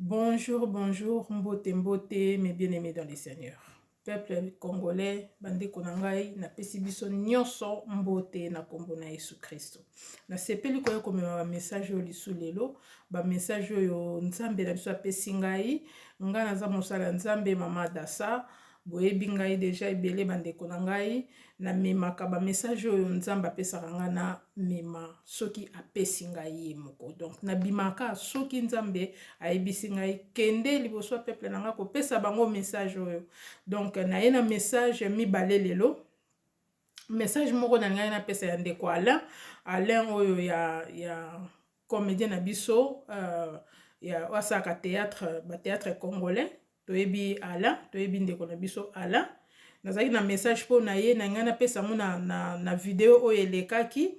Bonjour, bonjour, mbote mbote, mes bien-aimés dans le Seigneur. Peuple congolais, bandeko na ngai, napesi biso nyonso mbote na kombo na Yesu Kristo. Nasepeli koya komema ba message oyo lisu lelo, ba message oyo Nzambe na biso apesi ngai, ngai naza mosala Nzambe mama Dasa, Boyebi ngai deja ebele ba ndeko na ngai na memaka ba message oyo nzambe apesaka ngai na mema soki apesi ngai ye moko donc na bimaka soki nzambe ayebisi ngai kende liboso ya peuple na ngai kopesa bango message oyo donc naye na message mibale lelo message moko na ngai napesa ya ndeko Alain Alain oyo ya ya comedien na biso ya oyo asalaka theatre ba theatre congolais toyebi ye Alain toyebi ndeko na biso Alain nazalaki na message mpo na ye na ngai napesa yango na, na, na video oyo elekaki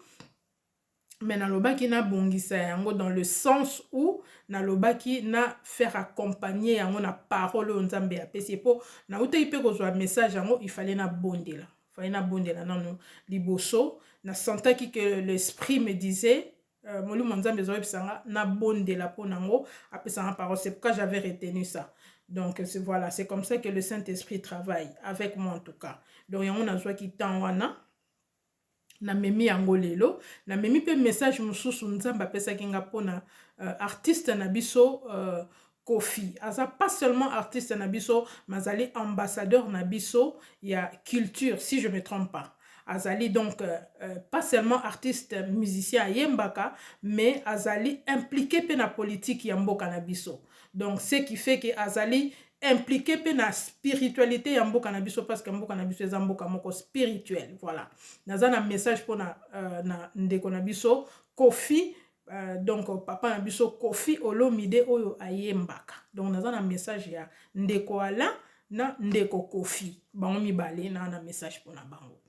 me nalobaki nabongisa yango dans le sens où nalobaki na faire accompagner yango na parole oyo nzambe apesi ye mpo nautaki mpe kozwa message yango ifale nabondela fale nabondela nano liboso nasentaki que l'esprit me disait Euh, molimo ya nzambe ezoyebisa nga nabondela mpo na ngo apesa nga parole c'est pourquoi j'avais retenu ça donc voilà c'est comme ça que le saint esprit travaille avec moi en tout cas donc yango nazwaki temps wana namemi yango lelo namemi mpe message mosusu nzambe apesaki nga mpo na uh, artiste na biso uh, Koffi aza pas seulement artiste na biso mais azali ambassadeur na biso ya culture si je me trompe pas azali donc euh, euh pas seulement artiste euh, musicien ayembaka mais azali impliqué pe na politique ya mboka na biso donc ce qui fait que azali impliqué pe na spiritualité ya mboka na biso parce que mboka na biso eza mboka moko spirituel voilà naza na message pona euh, na ndeko na biso Kofi Euh, donc papa na biso kofi olomide oyo ayembaka donc naza na message ya ndeko alain na ndeko kofi bango mibale na na message mpona bango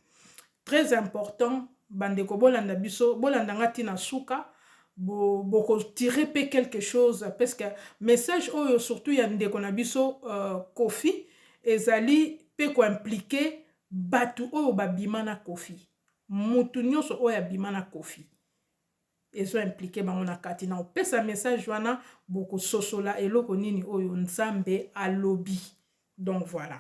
très important bandeko bolanda biso bolanda nga ntina suka bokotire bo mpe quelque chose parce que message oyo surtout ya ndeko na biso uh, kofi ezali mpe koimplike bato oyo babima na kofi motu nyonso oyo abima na kofi ezo implique bango na kati na opesa message wana bokososola eloko nini oyo nzambe alobi donc voilà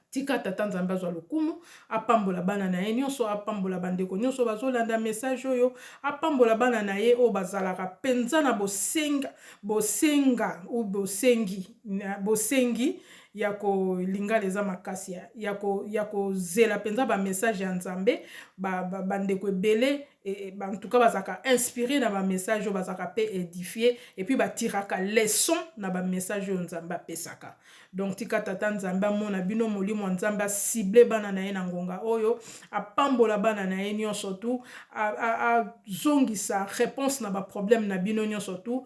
tika tata nzambe azwa lokumu apambola bana na ye nyonso apambola bandeko nyonso bazolanda message oyo apambola bana na ye oyo bazalaka mpenza na bosenga bosenga u bosengi bosengi ya ko lingala eza makasi ya ya ko ya ko zela penza ba message ya nzambe ba ba ndeko ebele ba en tout cas bazaka inspiré na ba message bazaka pe édifié et puis ba tiraka leçon na ba message yo nzambe apesaka donc tika tata nzambe amona bino molimo nzambe a cible bana na ye na ngonga oyo apambola bana na ye nionso tout a a zongisa réponse na ba problème na bino nionso tout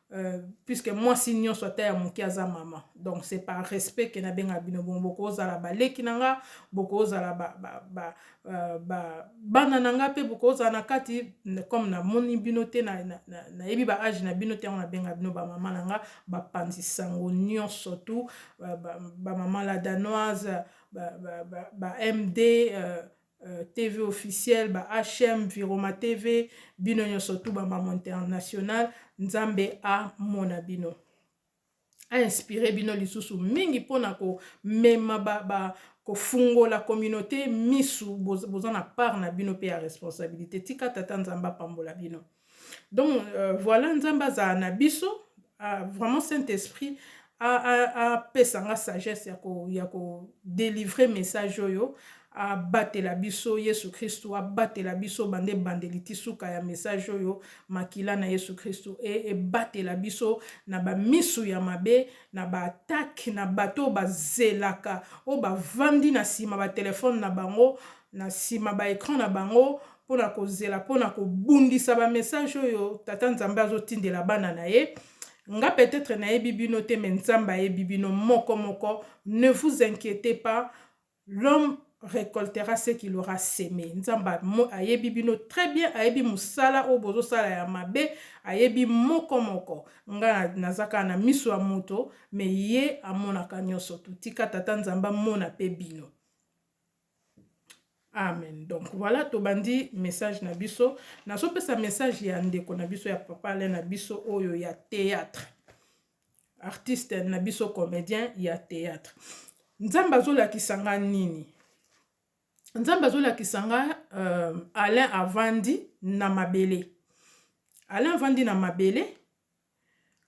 Euh, puisque mwasi nyonso ata ya moke aza mama donc c'est par respect ke nabenga bino bon bokozala baleki na nga bokozala ba, ba, ba, euh, ba, bana na nga mpe bokozala na kati comme namoni bino te nayebi na, na, na ba age na bino te yango nabenga bino bamama na nga bapanzi sango nyonso tu bamama ba, ba la danoise ba, ba, ba, ba md euh, TV officiel ba HM Viroma TV bino nyoso tout ba maman international Nzambe a mona bino a inspire bino lisusu mingi pona ko mema ba, ba kofungola communauté misu boza na part na bino pe ya responsabilité tika tata Nzambe apambola bino donc euh, voilà nzambe azala na biso uh, vraiment saint esprit apesa nga sagesse ya ko ya ko delivrer message oyo abatela biso yesu kristu abatela biso bande ebandeli ti suka ya message oyo makila na yesu kristu e ebatela biso na bamisu ya mabe na baatake na bato oyo bazelaka oyo bavandi na nsima batelefone na bango na nsima baecran na bango mpo na kozela mpo na kobundisa ba message oyo tata nzambe azotindela bana na ye nga peut-être nayebi bino te mais nzambe ayebi bino moko moko ne vous inquiétez pas l'homme recoltera ce qu'il aura semé nzambe ayebi bino très bien ayebi mosala oyo bozosala ya mabe ayebi moko moko nga nazaka na miso ya moto mais ye amonaka nyonso totika tata nzambe amona mpe bino Amen donc voilà tobandi message na biso nazopesa message ya ndeko na biso ya papa ale na biso oyo ya théâtre artiste na biso comédien ya théâtre nzambe azolakisa nga nini nzambe azolakisa nga euh, alain avandi na mabele alain avandi na mabele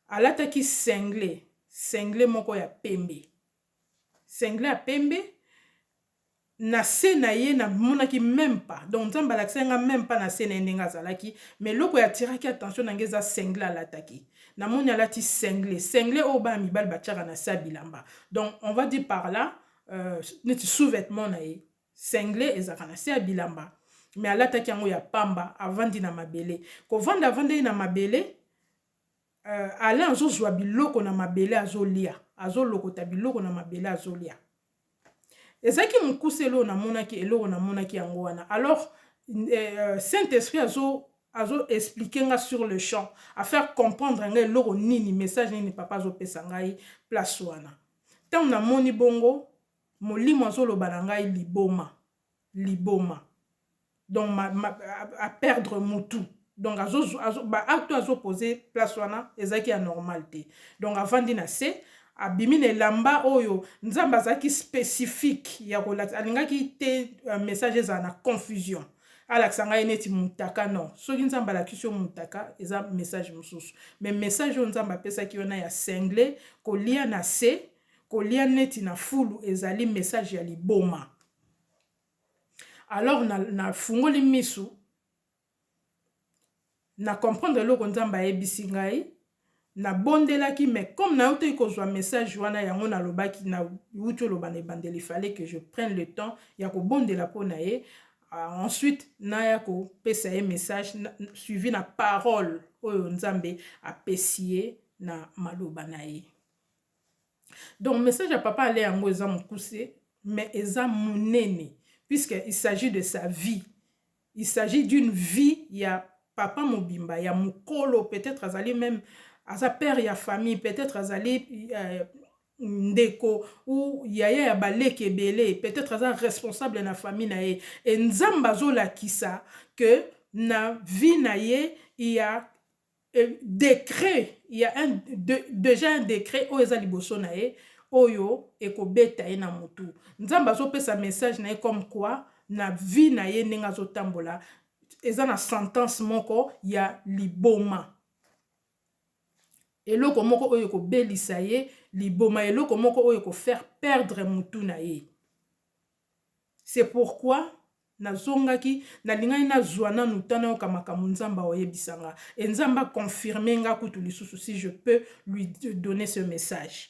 alataki sengle sengle moko ya pembe singlet ya pembe na se na ye na monaki meme pas donc nzambe alakisaki nga meme pas na se na ye ndenge azalaki mais eloko ya tiraki attention na nga eza single alataki na moni alati single single oyo bana mibali batiaka na se ya bilamba donc on va dire par là euh, neti sous vêtement na ye single ezalaka na se ya bilamba mais alataki yango ya pamba avandi na mabele kovanda avandaki na mabele Euh Alain azo zua biloko na mabele azo lia azo lokota biloko na mabele azo lia ezalaki mokuse eloko namonaki eloko namonaki yango wana alors euh, saint esprit azo azo explique nga sur le champ afaire comprendre nga eloko nini message nini papa azopesa ngai place wana ntango namoni bongo molimo azoloba na ngai liboma liboma donc ma, ma, a, a perdre mutu donc azo, azo, ba acte oyo azo pose place wana ezalaki ya normal te donc avandi na se abimi na elamba oyo nzambe azalaki specifique ya kolakisa alingaki te euh, message ezala na confusion alakisa ngai neti mutaka non soki nzambe alakisi yo mutaka eza message mosusu me message oyo nzambe apesaki wana ya single kolia na se kolia neti na fulu ezali message ya liboma alors na, na fungoli misu na comprendre eloko nzambe ayebisi ngai nabondelaki mais comme nautaki kozwa message wana yango nalobaki nauti oloba na ebandeli fallait que je prenne le temps ya kobondela mpo na ye euh, ensuite naya kopesa ye message suivi na parole oyo nzambe apesi ye na maloba na ye Donc message ya papa ale yango eza mukuse mais eza munene puisque il s'agit de sa vie. Il s'agit d'une vie ya papa mobimba ya mukolo peut-etre azali meme aza père ya famille peut-etre azali euh, ndeko ou yaya ya baleki ebele peut-être aza responsable na famille na ye et nzambe azolakisa que na vie na ye il y a Decret ya un dejà un decret oyo eza liboso na ye oyo ekobeta ye na mutu. Nzambe azopesa message na ye comme quoi na vie na ye ndenge azotambola eza na sentence moko ya liboma. Eloko moko oyo ekobelisa ye liboma eloko moko oyo eko faire perdre mutu na ye. C'est pourquoi na zongaki, na lingaki na zua nanu temps na yoka makambo Nzambe ao yebisa nga. Et Nzambe a confirmer nga kutu lisusu si je peux lui donner ce message.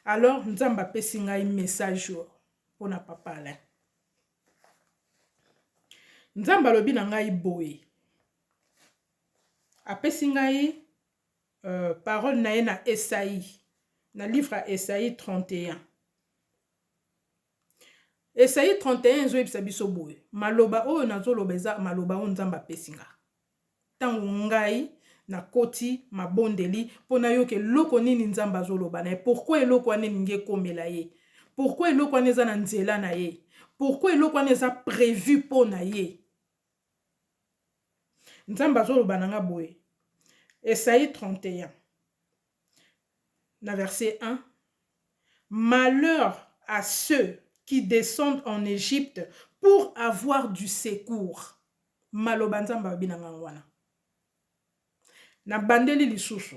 Alors Nzambe a pesi ngai message oyo pona papa Alain. Nzambe alobi na ngai boye. A pesi ngai euh, parole na ye na Esaïe, na livre ya Esaïe 31. Esaïe 31 ezoyebisa biso boye, maloba oyo nazoloba eza maloba oyo Nzambe apesi nga. Ntango ngai nakoti mabondeli mpo nayoka eloko nini Nzambe azoloba na ye, pourkoi eloko wana elingi ekomela ye, pourkoi eloko wana eza na nzela na ye, pourkoi eloko wana eza prevu mpo na ye. Nzambe azoloba na nga boye, Esaïe 31. na verse 1, Malheur à ceux qui descendent en Egypte pour avoir du secours. Maloba Nzambe alobi na ngai wana. Nabandeli lisusu.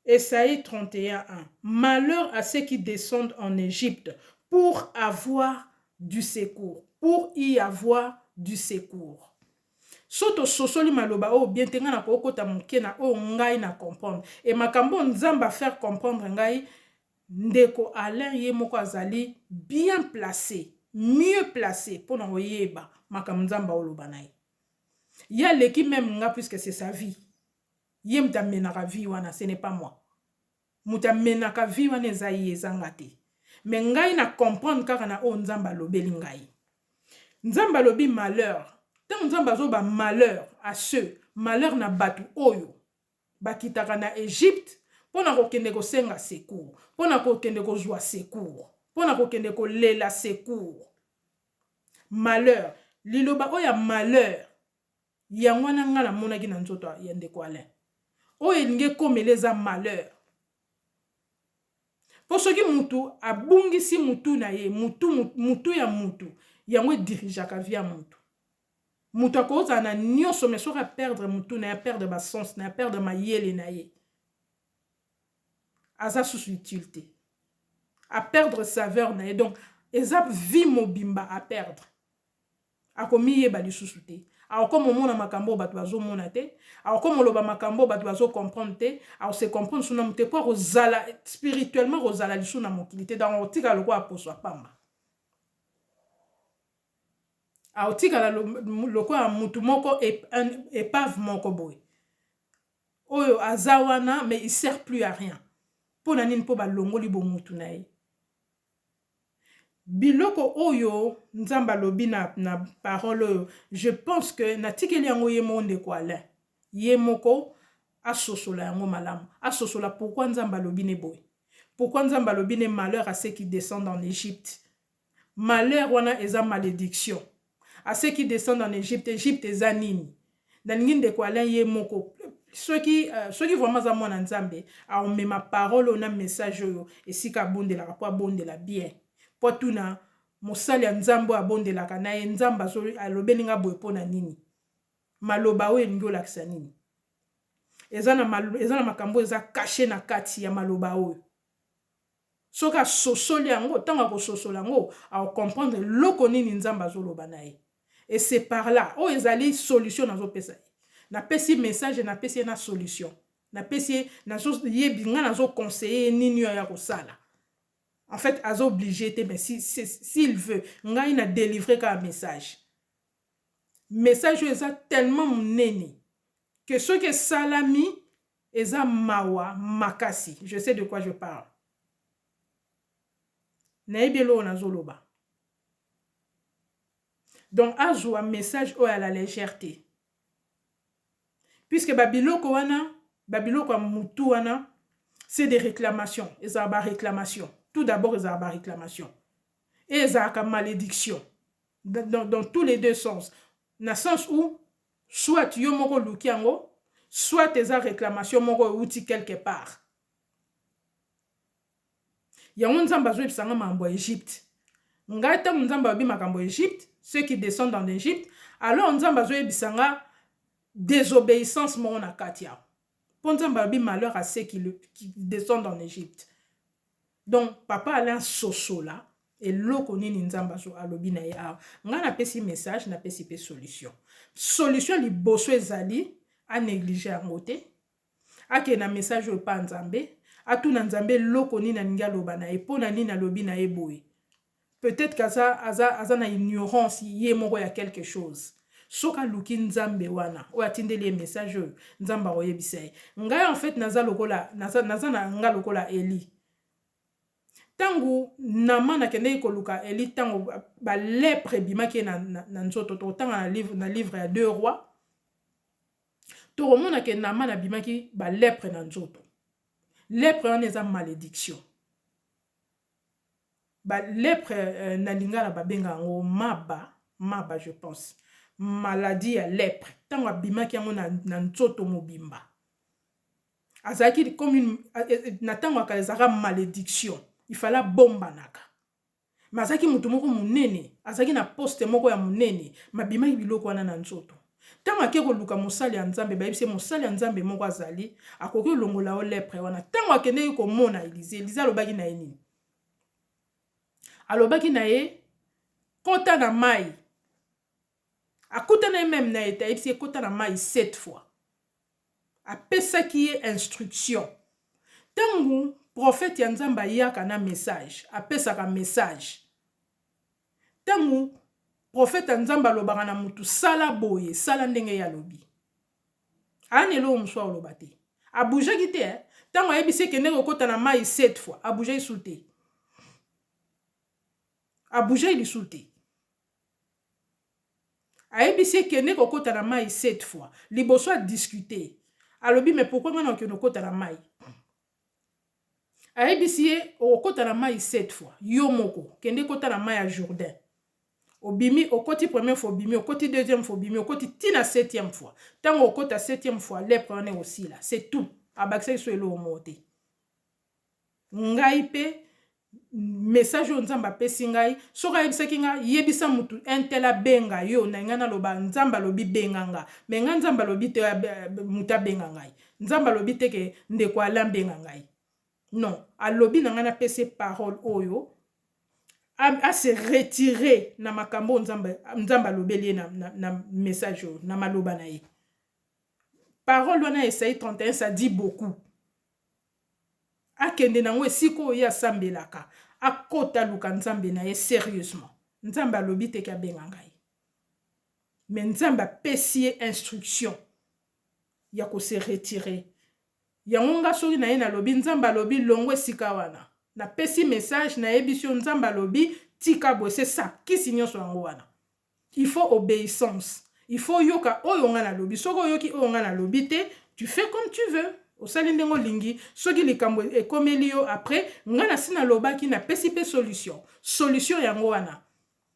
Esaïe 31:1. Malheur à ceux qui descendent en Égypte pour avoir du secours, pour y avoir du secours. Soki tososoli maloba oyo bien te, ngai nakoki kota moke na oyo ngai na comprendre. Et makambo oyo Nzambe a faire comprendre ngai, ndeko Alain ye moko azali bien place, mieux place mpo na koyeba makambo Nzambe aoloba na ye. Ye aleki meme ngai puisque c'est sa vie. Ye moto amenaka vie wana, ce n'est pas moi. Mutu amenaka vie wana eza ye eza nga te mais ngai na comprendre kaka na oyo nzambe alobeli ngai nzambe alobi malheur tango nzambe azoba malheur a ceux malheur na batu oyo ba kitaka na Egypte pona ko kende ko senga secours pona ko kende ko zua secours pona ko kende ko lela secours malheur liloba oyo ya malheur Yango wana nga na monaki na nzoto ya ndeko Alain. Oyo elingi ekomela eza malheur. Po soki mutu abungisi mutu na ye, mutu, mutu ya mutu, yango e dirigeaka vie ya mutu. Mutu akoki kozala na nionso mais soki a perdre mutu na ye, a perdre ba sens na ye, a perdre mayele na ye, aza susu utile te. A perdre saveur na ye. Donc eza vie mobimba a perdre. Akomiyeba lisusu te. Akokoma omona makambo oyo bato bazomona te. Akokoma oloba makambo oyo bato bazo comprendre te. Ako se comprendre lisusu na moto te mpo akozala spirituellement akozala lisusu na mokili te donc akotikala lokola poso ya pamba. Akotikala lokola moto moko epave moko boye oyo aza wana mais il sert plus à rien. Mpo na nini? Mpo balongoli bomoto na ye. Biloko oyo nzambe alobi na na parole oyo je pense que na tikeli yango ye moko ndeko Alain ye moko asosola yango malamu asosola pourquoi nzambe alobi ne boye pourquoi nzambe alobi ne malheur à ce qui descendent en Egypte malheur wana eza malediction A ceux qui descendent en Egypte, Egypte eza nini? Nalingi ndeko Alain ye moko soki soki vraiment aza mwana Nzambe aomema parole oyo na message oyo esika abondelaka mpo abondela bien mpo atuna mosali ya Nzambe oyo abondelaka na ye Nzambe alobeli nga boye mpo na nini maloba oyo elingi olakisa nini eza na, eza na makambo eza kashe na kati ya maloba oyo Soki asosoli yango, tango akososola yango, ako comprendre eloko nini Nzambe azoloba na ye. Et c'est par là. Oyo ezali solution nazopesa ye. Napesi ye message et napesi ye na solution. Napesi ye, nazo ye, ngai nazo conseiller ye nini oyo aya kosala. En fait, aza oblige te mais si, s'il veut, ngai na delivrer kaka message. Message oyo eza tellement munene que soki esalami eza mawa makasi je sais de quoi je parle nayebi eloko nazoloba donc azua message oyo à la légère te puisque ba biloko wana ba biloko ya mutu wana c'est des réclamations ezala ba réclamations tout d'abord ezala ba réclamations et ezalaka malediction dans, dans tous les deux sens na sens où soit yo moko oluki yango soit eza réclamation moko euti quelque part yango nzambe azoyebisa nga makambo ya egypte ngai ntango nzambe alobi makambo ya egypte ceux qui descendent en egypte alors nzambe azoyebisa nga désobéissance moko na kati yango mpo nzambe alobi malheur à ceux qui, le, qui descendent en egypte Donc papa Alain sosola eloko nini nzambe azo alobi na ye awa ngai na pesi message na pesi pe solution solution liboso ezali a neglige yango te akende na message oyo epa nzambe atuna nzambe eloko nini alingi aloba na ye mpo na nini alobi na ye boye Peut etre que aza aza aza na ignorance ye moko ya quelque chose. Soki aluki nzambe wana oyo atindeli ye message oyo nzambe akoyebisa ye. Ngai en fait naza lokola naza naza na nga lokola Elie. Tango Naman akendeki koluka Elie tango ba lèpre ebimaki ye na na nzoto tokotanga na livre na livre ya deux rois tokomona ke Naman abimaki ba lèpre na nzoto. Lèpre wana eza maledictions. Ba lepre na lingala ba benga yango maba, maba je pense. Maladie ya lepre tango abimaki yango na nzoto mobimba. Azalaki comme une, na tango ya kala ezalaka malediction. Il fallait abombanaka. Mais azalaki moto moko monene, azalaki na poste moko ya monene, mais abimaki biloko wana na nzoto. Ntango akei koluka mosali ya Nzambe, bayebisi ye, Mosali ya Nzambe moko azali, akoki kolongola yo lepre wana. Ntango akendeki komona Elize, Elize alobaki na ye nini? Alobaki na ye, Kota na mai. Akutanaki meme na ye te, ayebisi ye, Kota na mai sept fois. Apesaki ye instruction. Ntango profete ya Nzambe ayaka na message, apesaka message. Tango prophète ya nzambe alobaka na mutu sala boye sala ndenge ye alobi aya na eloko mosusu akoloba te abougaki te eh? ntango ayebisi ye kende kokota na mai sept fois abougea lisusu te abougea lisusu te ayebisi ye kende kokota na mai sept fois liboso adiscute alobi me pourkui ngai na okende kokota na mai Ayebisi ye okokota na mayi sept fois yo moko kende kota na mayi ya Jourdain obimi okoti première fois obimi okoti deuxième fois obimi okoti ti na septième fois tango okota septième fois lepre wana ekosila c'est tout abakisaki so eloko moko te ngai pe Message oyo nzambe apesi ngai soki ayebisaki nga yebisa mutu un tel abenga yo na linga naloba nzambe alobi benga nga mais nga nzambe alobi te mutu abenga ngai nzambe alobi te ke ndeko Alain abenga ngai non alobi na ngai napesi ye parole oyo a se retire na makambo oyo nzambe, nzambe alobeli ye na, na, na message oyo na maloba na ye parole wana ya esai 31 ça dit beaucoup akende na ngo esika oyo ye asambelaka akota aluka nzambe na ye serieusement nzambe alobi te ke abenga ngai mais nzambe apesi ye instruction ya ko se retirer yango nga soki na ye nalobi nzambe alobi longo esika wana napesi message nayebisi yo nzambe alobi tika boye se sakisi nyonso yango wana Il faut obeissance il faut oyoka oyo nga nalobi soki oyoki oyo nga nalobi te tu fais comme tu veux osali ndenge olingi soki likambo ekomeli yo après nga nasi nalobaki napesi pe solution solution yango wana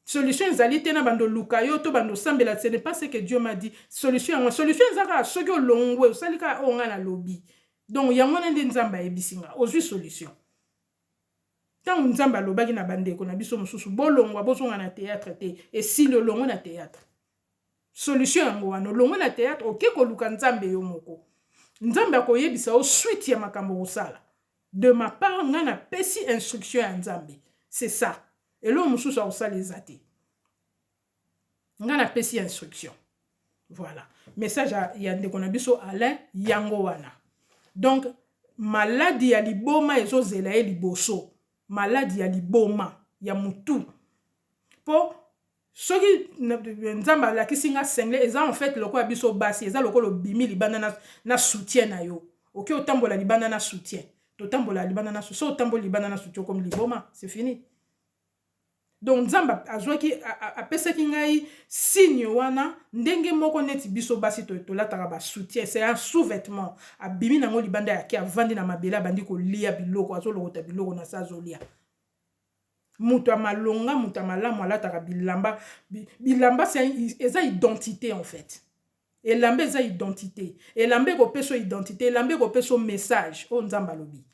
solution ezali te na banda oluka yo to banda osambela ce n'est pas ce que Dieu m'a dit solution yango solution eza kaka soki olongwe osali kaka oyo nga nalobi donc yango wana nde Nzambe ayebisi nga ozui solution Ntango Nzambe alobaki na bandeko na biso mosusu, bolongwa, bozonga na teyatre te, esili olongwe na teyatre. Solution yango wana, olongwe na teyatre, oke koluka Nzambe yo moko. Nzambe akoyebisa yo suite ya makambo kosala. De ma part, ngai napesi instruction ya Nzambe. C'est ça. Eloko mosusu akosala eza te. nga na pesi ya instruction voilà message ya, ya ndeko na biso Alain yango wana donc maladi ya liboma ezozela ye liboso maladi ya liboma ya mutu po soki nzambe alakisi nga sengle eza en fait lokola biso basi eza lokola obimi libanda na, na soutien na yo oke okay, otambola libanda na soutien totambola libanda na soutien so otamboli libanda na soutien okomi liboma c'est fini Donc Nzambe azuaki apesaki ngai signe wana ndenge moko neti biso basi tolataka ba soutien c'est un sous vetement abimi nango libanda ya ke avandi na mabele abandi kolia biloko azolokota biloko na se azolia moto ya malonga moto ya malamu alataka bilamba bilamba eza identite en fait elamba eza identite elamba ekopesa identite elamba ekopesa message oyo Nzambe alobi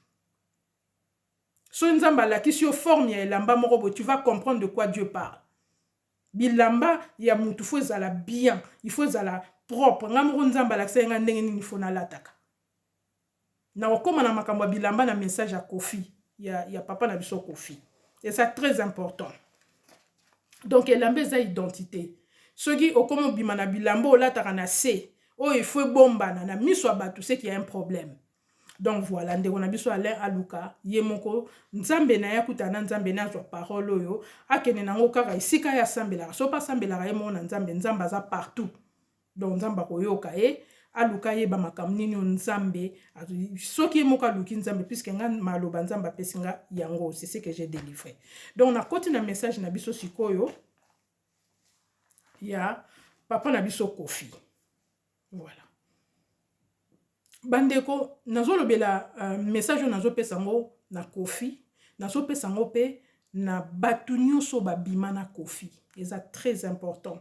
Soki nzambe alakisi yo forme ya elamba moko boye tu vas comprendre de quoi Dieu parle. Bilamba ya mutu faut ezala bien, il faut ezala propre. Ngai moko nzambe alakisaki ngai ndenge nini faut nalataka. Nakokoma na makambo ya bilamba na message ya Koffi, ya, ya papa na biso Koffi. Eza très important. Donc elamba eza identite. Soki okomi obima na bilamba olataka na se, oyo il faut ebombana na miso ya batu, c'est qu'il y a un problème. Donc voila ndeko na biso Alain aluka ye moko nzambe naye akutana na nzambe naye azwa parole oyo akende na yango kaka esika ye asambelaka soki asambelaka ye moko na nzambe nzambe aza partout donc nzambe akoyoka ye aluka ayeba makambo nini oyo nzambe soki ye moko aluki nzambe puiske nga maloba nzambe apesi nga yango c'est ce que j'ai délivré donc nakoti na message na biso sikoyo ya papa na biso kofi Voilà. Bandeko, nazo lobela message oyo nazo pesa yango na Koffi, nazo pesa yango pe na batu nionso ba bima na Koffi. Eza très important.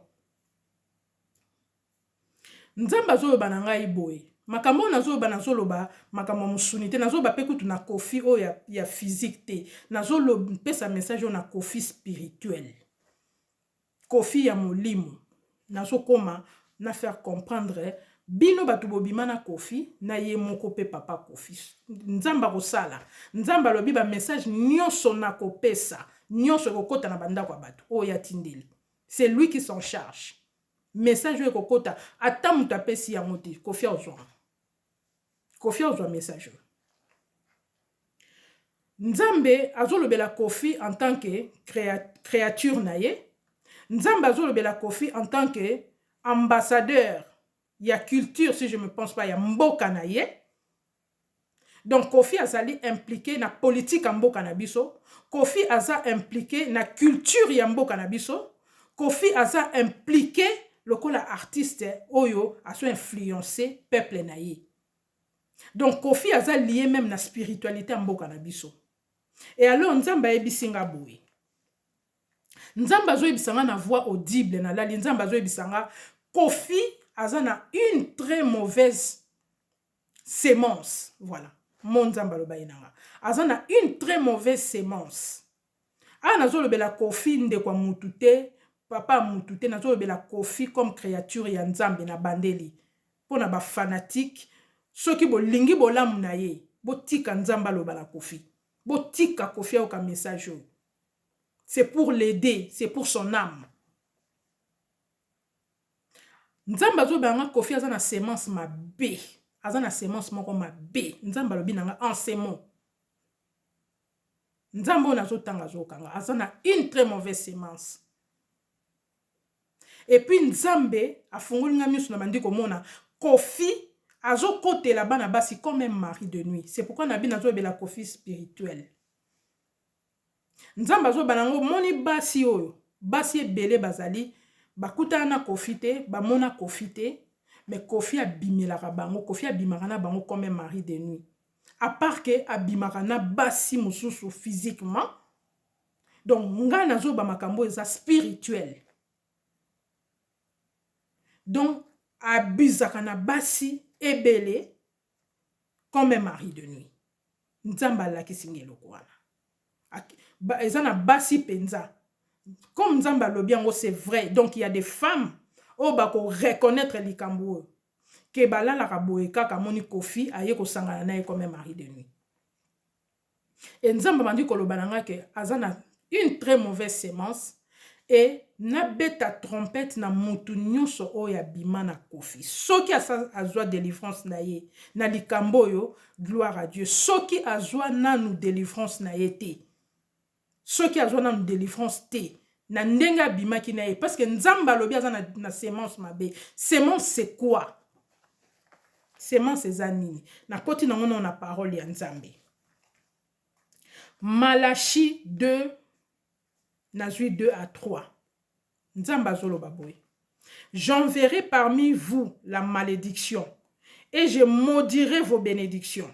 Nzambe azo loba na ngai boye, makambo oyo nazo loba nazo loba makambo ya musuni te, nazo loba pe kutu na Koffi oyo ya, ya physique te. Nazo pesa message oyo na Koffi spirituel. Koffi ya molimo nazo koma na faire comprendre bino batu bobima na koffi na ye moko pe papa koffi nzambe akosala nzambe alobi ba message nionso na kopesa nionso ekokota na bandako ya batu oyo ye atindeli c'est lui qui s'en charge message oyo ekokota ata mutu apesi yango te koffi akozua yango Koffi ozwa message oyo. Nzambe azolobela Koffi en tant que créature na ye. Nzambe azolobela Koffi en tant que ambassadeur ya culture si je me pense pas ya mboka na ye. Donc Koffi azali impliqué na politique ya mboka na biso. Koffi aza impliqué na culture ya mboka na biso. Koffi aza implique lokola artiste oyo azo influence peuple na ye. Donc Koffi aza lie meme na spiritualite ya mboka na biso. Et alors Nzambe ayebisi nga boye. Nzambe azo yebisa nga na voix audible na lali Nzambe azo yebisa nga Koffi aza na une très mauvaise semence. Voilà. Mon Nzambe aloba ye na nga. Aza na une très mauvaise semence. Awa nazolobela koffi ndeko ya mutu te papa ya mutu te nazolobela koffi comme creature ya nzambe nabandeli pona ba fanatique soki bolingi bolamu naye botika nzambe aloba na koffi botika koffi ayoka message oyo c'est pour l'aider c'est pour son ame nzambe azolobela nga koffi aza na semence mabe aza na semence moko mabe nzambe alobi nanga en ce mot. Nzambe oyo nazo tanga azo kanga aza na une très mauvaise semence. Et puis Nzambe afungoli nga misu na bandi komona Koffi azo kotela bana basi comme un mari de nuit. C'est pourquoi nabi nazo lobela Koffi spirituel. Nzambe azo bana ngo moni basi oyo basi ebele bazali bakutana na Koffi te bamona Koffi te mais Koffi abimelaka bango Koffi abimaka na bango comme un mari de nuit. A part que abimaka na basi mususu physiquement donc nga nazo ba makambo oyo eza spirituel donc abusaka na basi ebele comme un mari de nuit nzambe alakisi nga eloko wana eza na basi mpenza comme nzambe alobi yango c'est vrai donc il ya des femmes oyo bako reconnaître likambo oyo que balalaka boye kaka amoni koffi aye kosangana naye comme un mari de nuit et nzambe abandi koloba na nga que aza na une très mauvaise semence et nabeta trompette na mutu nionso oyo abima na koffi soki azua delivrance naye na likambo oyo gloire à Dieu soki azua nanu delivrance naye te Soki azua nanu delivrance te na ndenge abimaki naye parce que nzambe alobi aza na na semence mabe semence c'est quoi semence eza nini na koti na ngo nao na parole ya nzambe malachi 2 nazui 2 à 3 nzambe azoloba boye j'enverrai parmi vous la malédiction et je maudirai vos bénédictions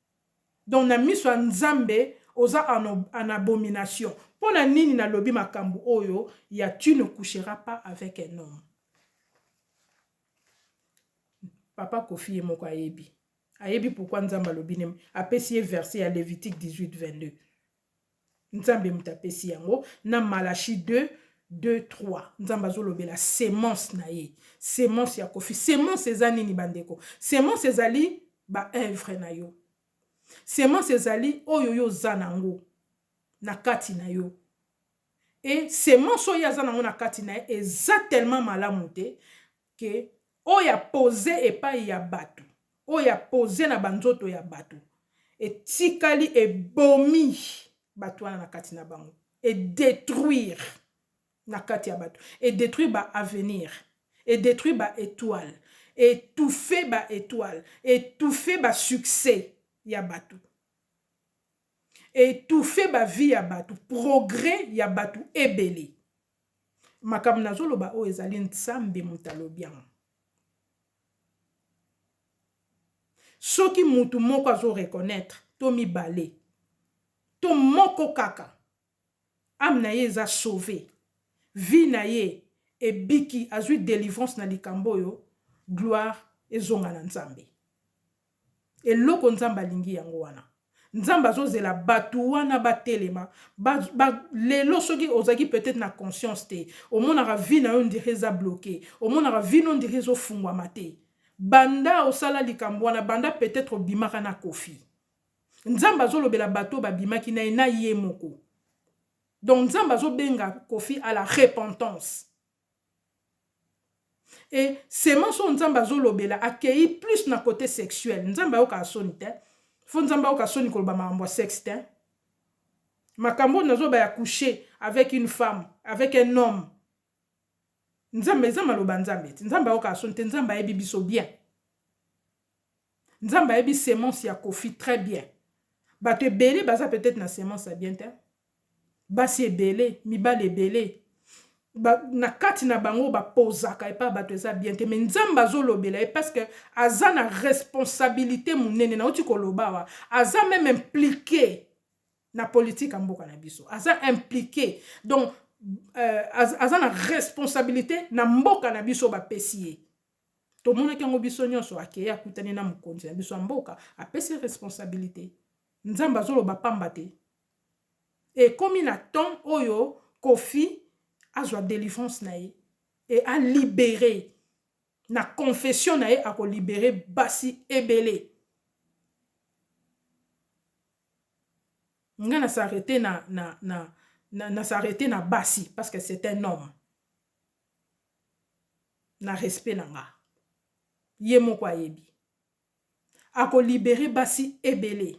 Donc na miso ya nzambe oza en en abomination pona nini na lobi makambu oyo ya tu ne coucheras pas avec un homme? Papa koffi ye moko ayebi ayebi pourquoi nzambe alobi ne apesi ye verse ya levitique 18 22. Nzambe moto apesi yango na Malachie 2 2 3 nzambe azolobela semence na ye semence ya kofi semence eza nini bandeko semence ezali baevre na yo semence ezali oyo yo oza na yango na kati na yo e semence oyo aza na yango na kati na ye eza tellement malamu te que oyo ya pose epayi ya batu oyo ya pose na ba nzoto ya batu etikali ebomi batu wana na kati na bango e detruire na kati ya batu e detruire ba avenir e detruire ba etoile e touffe ba etoile e touffe ba succès ya batu e touffe ba vie ya batu progrès ya batu ebele Makambo nazo loba oyo ezali nzambe mutu alobi yango. Soki mutu moko azo reconnaitre to mibale to moko kaka ame na ye eza sauve vie na ye ebiki azui delivrance na likambo oyo gloire ezonga na nzambe. Eloko nzambe alingi yango wana nzambe azozela batu wana batelema ba ba lelo soki ozalaki peut etre na conscience te omonaka vie nayo ondire eza bloque omonaka vie no ondire ezo fungwama te banda osala likambo wana banda peut etre obimaka na koffi nzambe azolobela batu oyo babimaki naye na ye moko donc nzambe azobenga koffi a la repentance. Et semence oyo nzambe azo lobela akeyi plus na cote sexuel nzambe ayokaka soni tein faut nzambe ayoka soni koloba makambo ya sex tein makambo oyo nazo loba ya couche avec une femme avec un homme nzambe eza maloba nzambe te nzambe ayokaka soni te nzambe ayebi biso bien nzambe ayebi semence ya koffi très bien bato ebele baza peut-etre na semence ya bien tein basi ebele mibali ebele ba na kati na bango ba pozaka epa bato eza bien te mais nzambe azolobela ye parce que aza na responsabilite munene nauti kolobawa aza meme implique na politique ya mboka na biso aza implique donc euh, aza na responsabilite na mboka na biso bapesi ye tomonaki yango biso nyonso akeye akutani na mokonzi na biso ya mboka apesi responsabilite nzambe azoloba pamba te ekomi na temps oyo koffi azwa delivrance na ye et a libere na confession na ye ako libere basi ebele nga na s'arreter na na na na s'arreter na basi parce que c'est un homme na respect na nga ye moko ayebi Ako liberer basi ebele.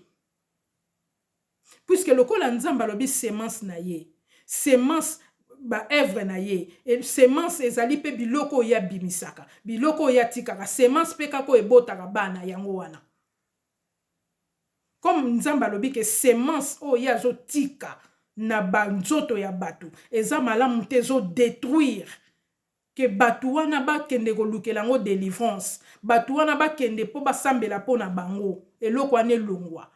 Puisque lokola Nzambe alobi semence na ye, semence ba œuvres na ye, semence ezali pe biloko oyo ye abimisaka, biloko oyo ye atikaka, semence pe kaka oyo ebotaka bana yango wana. Comme Nzambe alobi que semence oyo ye azo tika na ba nzoto ya batu eza malamu te, ezo detruire Que batu wana ba kende ko lukela yango delivrance. Batu wana ba kende po ba sambela po na bango. Eloko wana elongwa.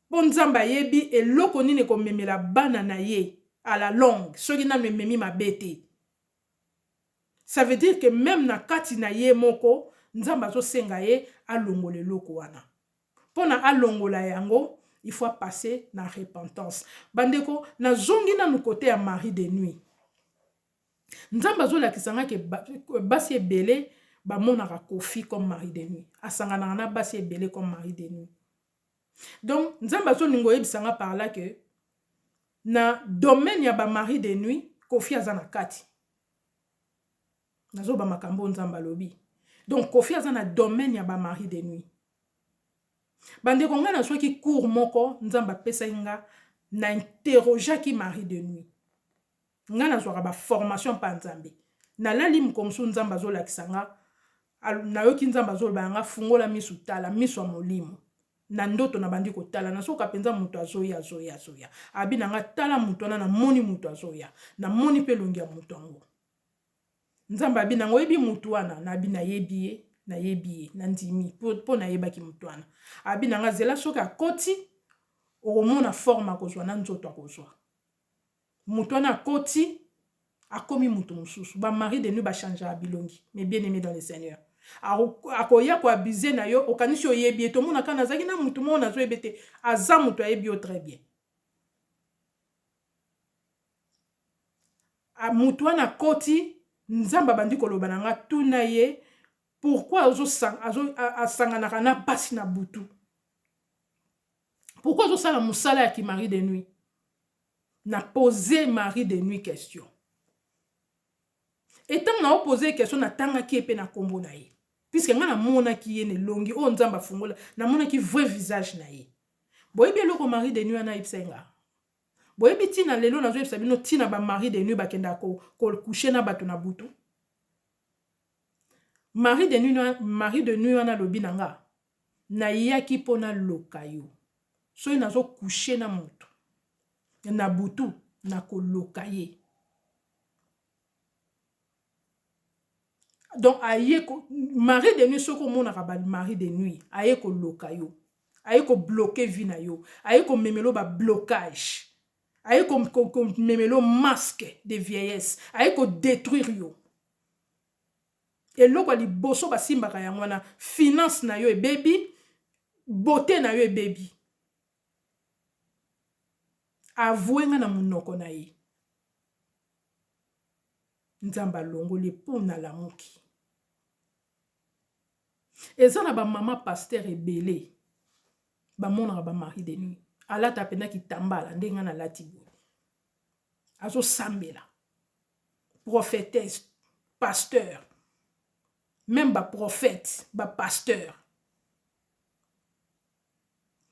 Po Nzambe ayebi eloko nini eko memela bana na ye à la longue soki nanu ememi mabe te. Ça veut dire que meme na kati na ye moko Nzambe azo senga ye a longola eloko wana. Po na a longola yango il faut a passer na repentance. Ba ndeko na zongi nanu cote ya Marie de nuit. Nzambe azo lakisa nga ke basi ebele ba monaka koffi comme mari de nuit asanganaka na basi ebele comme mari de nuit donc nzambe azo linga oyebisa nga par là que na domaine ya ba mari de nuit koffi aza na kati nazo loba makambo oyo nzambe alobi donc koffi aza na domaine ya ba mari de nuit bandeko ngai nazwaki cour moko nzambe apesaki nga na interrogeaki mari de nuit Nga nazwaka ba formation epa nzambe nalali mukomusu nzambe azolakisa nga nayoki nzambe azoloba na nga fungola misu tala misu ya molimo na ndoto nabandi kotala nazoka penza mutu azoya azoya azoya abi na nga tala mutu wana namoni mutu azoya namoni pe elongi ya mutu yango nzambe abi na nga oyebi mutu wana nabi nayebi ye nayebi ye nandimi po nayebaki mutu wana abi na nga zela soki akoti okomona forme akozwa na nzoto akozwa Mutu wana akoti akomi mutu mususu ba mari de nuit ba changeaka bilongi mes bien aimes dans le seigneur akoya ko abuse na yo okanisi oyebi ye tomona kaka nazalaki na mutu moko nazo yebete aza mutu ayebi yo très bien mutu wana akoti nzambe abandi koloba na nga tuna ye pourquoi asanganaka na pasi na butu pourkoi azosala mosala ya kimari de nuit na pose mari de nuit question etango na opose question natangaki ye mpe na nkombo na ye puiske ngai namonaki ye na elongi oyo nzambe afungola namonaki vrai visage na ye boyebi eloko mari de nuit wana ayebisa ye ngaa boyebi ntina lelo nazoyebisa bino ntina bamari de nuit bakendaka kokushe ko na bato na butu mari de nuit wana alobi na nga Nayaki po naloka yo. Soki nazo coucher na mutu na butu, nakoloka ye. Donc aye ko, mari de nuit soki omonaka ba mari de nuit, aye koloka yo. Aye ko bloquer vie na yo. Aye komemela yo ba blocages. Aye ko, ko, komemela yo masque de vieillesse. Aye ko detruire yo. Eloko ya liboso ba simbaka yango wana finance nayo ebebi beaute nayo ebebi avoue nga na munoko naye nzambe alongoli ye po nalamuki eza na ba mama pasteur ebele ba monaka ba mari de nuit alata pena kitambala nde nga nalati boye azo sambela prophetesse pasteur meme ba prophète ba pasteur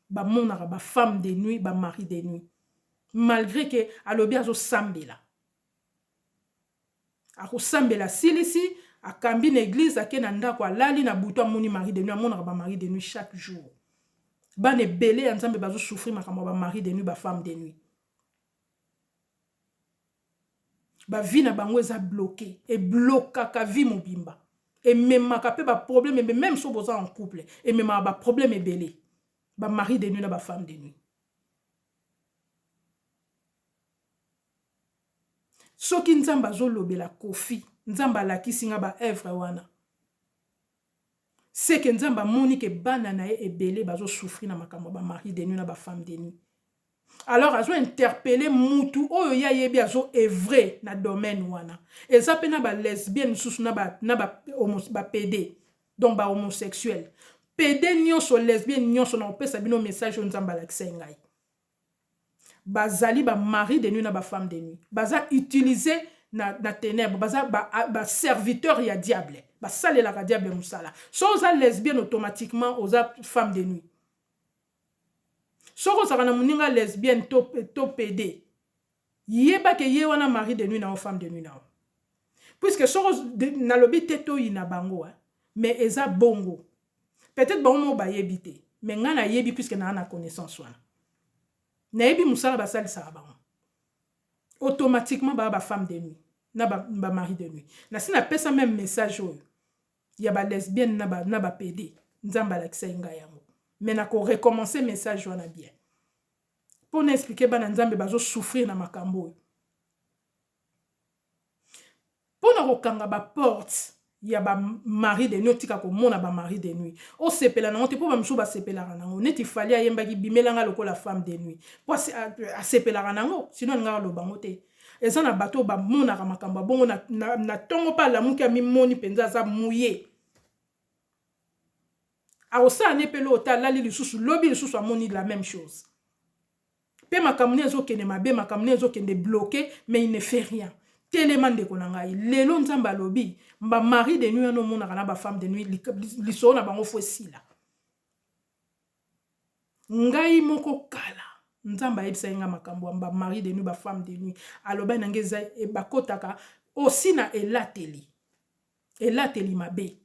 bamonaka ba femme de nuit ba mari de nuit malgré ke alobi azosambela akosambela asilisi akambi na eglize ake na ndako alali na butu amoni mari de nuit amonaka ba mari de nuit chaque jour bana ebele ya nzambe bazosouffrir makambo ya ba mari de nuit ba femme de nuit Ba vie na bango eza bloque e blokaka vie mobimba ememaka pe ba probleme ebele meme soki boza en couple ememaka ba probleme ebele ba mari de nuit na ba femme de nuit. soki nzambe azolobela kofi nzambe alakisi nga ba evre wana seke nzambe amoni ke bana na ye ebele bazosouffri na makambo ya bamari de nuit na bafemme de nuit alors azo interpelle mutu oyo ye ayebi azo evre na domaine wana eza pe na ba lesbienne mususu na ba na ba homos ba pede donc ba homosexuel pede nionso lesbienne nionso na kopesa bino message oyo nzambe alakisa ye ngai bazali ba mari de nuit na ba femme de nuit baza utilise na, na tenebre baza ba, ba serviteur ya diable basalelaka diable mosala so oza lesbienne automatiquement oza femme de nuit Soki ozalaka na muninga lesbienne to to pede yeba ke ye wana mari de nuit na yo femme de nuit na yo puisque soki nalobi te toyina bango hein mais eza bongo peut etre bango moko bayebi te mais ngai nayebi puisque naa na connaissance wana nayebi mosala basalisaka bango automatiquement baa ba femme de nuit na ba, ba mari de nuit nasi napesa meme message oyo ya ba lesbienne na ba na ba pede nzambe alakisaki nga yango mais na ko recommencer message wana bien po na expliquer bana nzambe bazo souffrir na makambo oyo po na kokanga ba porte ya ba mari de nuit otika komona ba mari de nuit osepela nango te po bamisusu basepelaka nango neti fali ayembaki bimelanga lokola femme de nuit po asepelaka nango sino alingaka lobango te Eza na bato oyo bamonaka makambo ya bongo na, na, na tongo mpe alamuki amimoni mpenza aza muye. Akosala ne mpe lota alali lisusu lobi lisusu amoni la meme chose. Mpe makambo ne ezokende mabe, makambo ne ezokende bloke, mais il ne fait rien. Telema ndeko na ngai. Lelo Nzambe alobi, ba mari de nuit wana omonaka na ba femme de nuit, lisolo na bango fo esila. Ngai moko kala nzambe ayebisaki ngai makambo ya ba marie de nuit ba femme de nuit alobaki na ngai eza bakotaka osi na elateli elateli mabe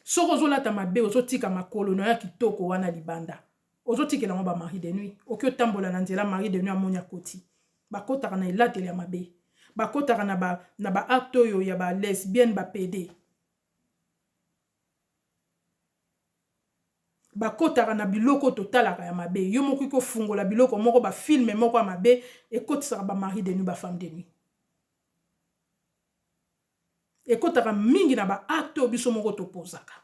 soki ozolata mabe ozotika makolo na yo ya kitoko wana libanda ozotikela yango ba marie de nuit oki otambola na nzela marie de nuit amoni akoti bakotaka na elateli ya mabe bakotaka na ba, na ba acte oyo ya ba lesbienne ba pede Ba kotaka na biloko oyo totalaka ya mabe, yo moko okoki kofungola biloko moko ba films moko ya mabe ekotisaka ba maris de nuit ba femmes de nuit. Ekotaka mingi na ba actes oyo biso moko to posaka.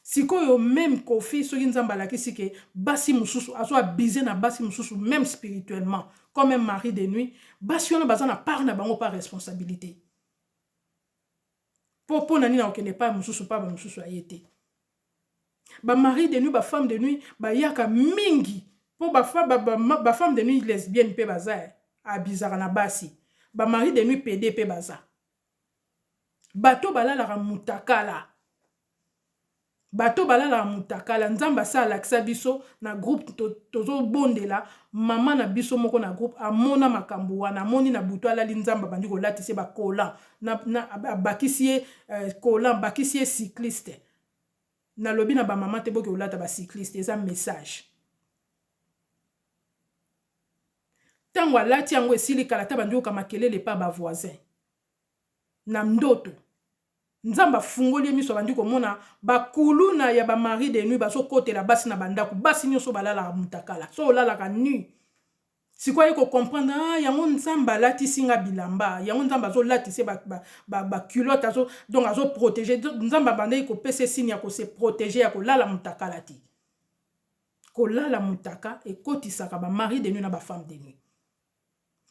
Sikoyo meme Koffi soki Nzambe alakisi que basi mususu azo abuser na basi mususu meme spirituellement comme un mari de nuit, basi wana baza na part na bango par responsabilite. Po pona nini ako kende epai mosusu epai ba mosusu ya ye te? Ba maris de nuit ba femmes de nuit ba yaka mingi po ba femmes de nuit lesbiennes pe baza eh a bizaka na basi ba maris de nuit pede pe baza bato oyo ba lalaka mutakala. Bato oyo balalaka mutakala nzambe asi alakisa biso na groupe tozo bondela maman na biso moko na groupe amona makambu wana amoni na butu alali nzambe abandi kolatisa ye ba collant abakisi ye collant abakisi ye cycliste nalobi na ba maman te boke kolata ba cycliste eza message tangu alati yango esili kala te abandi koyoka makelele epa ba voisin na ndoto. Nzambe afungoli ye miso abandi komona ba kuluna ya ba mari de nuit bazo kotela basi na ba ndaku basi nioso balalaka mutakala soki olalaka nu sikoyo aye ko comprendre ah yango nzambe alatisi nga bilamba yango nzambe azo latisa ye ba ba culotte azo donc azo protege nzambe abandaki kopesa ye signe ya ko se protege ya kolala mutakala te kolala mutaka ekotisaka ba mari de nuit na ba femme de nuit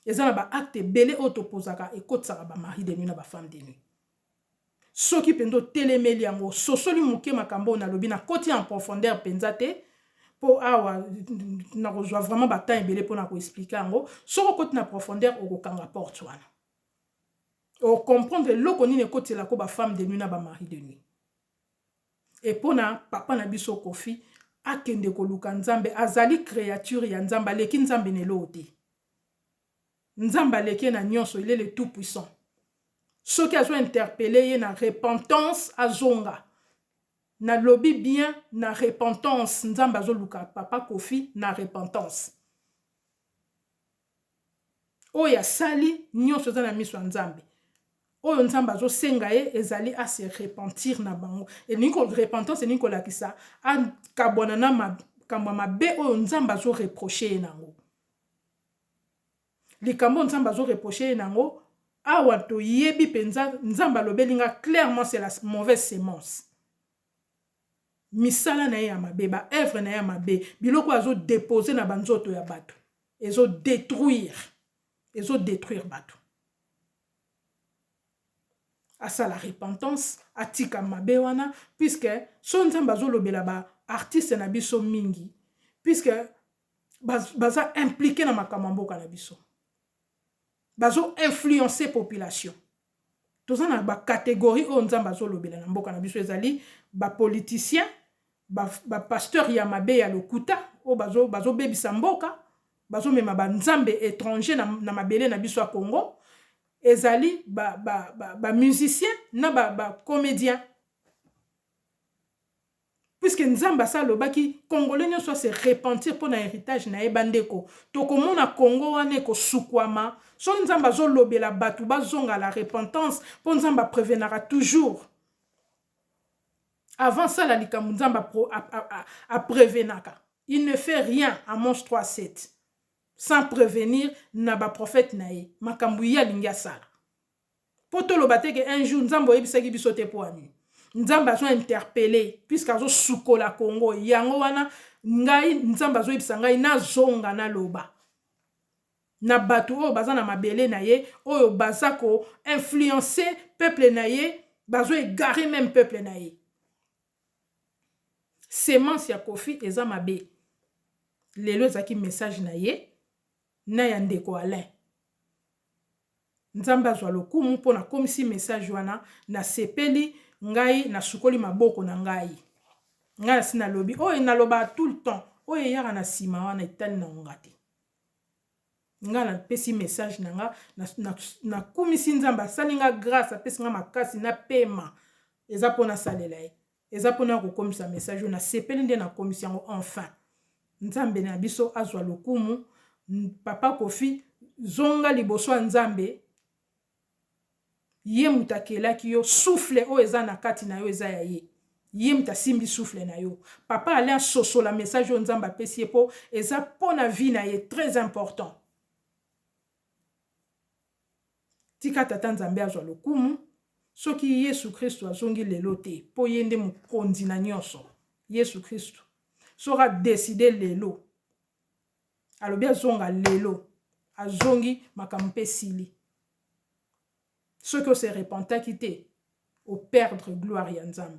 eza na ba acte ebele oyo topozaka ekotisaka ba mari de nuit na ba femme de nuit soki mpenza otelemeli yango ososoli moke makambo oyo nalobi nakoti en profondeur mpenza te mpo awa nakozwa vraiment batemp ebele mpo na koexplike yango soki okoti na profondeur okokanga porte wana okomprendre eloko nini ekotelako bafemme de nuit na bamari de nuit Et pona papa na biso koffi akende koluka nzambe azali creature ya nzambe aleki nzambe na eloko te nzambe aleki ye na nionso il est le tout puissant soki azo interpele ye na repentance azonga nalobi bien na repentance nzambe azoluka papa koffi na repentance Oyo asali nionso eza na miso ya Nzambe. Oyo Nzambe azo senga ye ezali a se repentir na bango. Elingi ko repentance elingi kolakisa a kabwana na makambo ya mabe oyo Nzambe azo reprocher ye nango. Likambo oyo Nzambe azo reprocher ye nango awa toyebi penza Nzambe alobeli nga clairement c'est la mauvaise semence. Misala na ye ya mabe, ba oeuvres na ye ya mabe, biloko oyo azo deposer na ba nzoto ya batu ezo detruire, ezo detruire batu. Asala repentance, atika mabe wana puisque soki Nzambe azo lobela ba artistes na biso mingi puisque baza impliquer na makambo ya mboka na biso. Bazo influencer population. Toza na ba categorie oyo nzambe azo lobela na mboka na biso ezali ba politicien ba pasteur ya mabe ya lokuta oyo bazo bebisa mboka bazo mema ba nzambe etrange na mabele na biso ya congo ezali ba musicien na ba comedien. Puisque nzambe asi alobaki congolais nionso a se repentir pona heritage naye ba ndeko tokomona congo wana ekosukuama soki nzambe azo lobela batu bazonga à la repentance po nzambe a prevenaka toujours avant asala likambo nzambe a prevenaka il ne fait rien amonce 3 7 sans prevenir na ba prophète naye makambo ye alingi asala. Po toloba te que un jour Nzambe oyebisaki biso te pona nini? Nzambe azo interpelle puisque azo sukola Congo yango wana ngai Nzambe azo yebisa ngai na zonga na loba na batu oyo baza na mabele na ye oyo baza ko influencer peuple na ye bazo egarer meme peuple na ye. Semence ya koffi eza mabe lelo ezalaki message na ye na ya ndeko Alain nzambe azwa lokumu mpo nakomisi message wana nasepeli ngai nasukoli maboko na ngai ngai nasi nalobi oyo nalobaka tout le temps oyo eyaka na nsima wana etali na ngonga te Nga na pesi message na nga na kumisi nzambe asali nga grace apesi nga makasi na pema eza pona salela ye eza pona ya kokomisa message oyo na sepeli nde na komisi yango enfin nzambe na biso azwa lokumu papa kofi zonga liboso ya nzambe Ye moto akelaki yo souffle oyo eza na kati nayo eza ya ye. Ye moto asimbi souffle nayo. Papa Alain asosola message oyo Nzambe apesi ye po eza po na vie na ye très important. Tika Tata Nzambe azwa lokumu. Soki Yesu Kristu azongi lelo te po ye nde mokonzi na nionso. Yesu Kristu soki a decider lelo. alobi azonga lelo azongi makambo mpe esili soki o se repentaki te o perdre gloire ya Nzambe.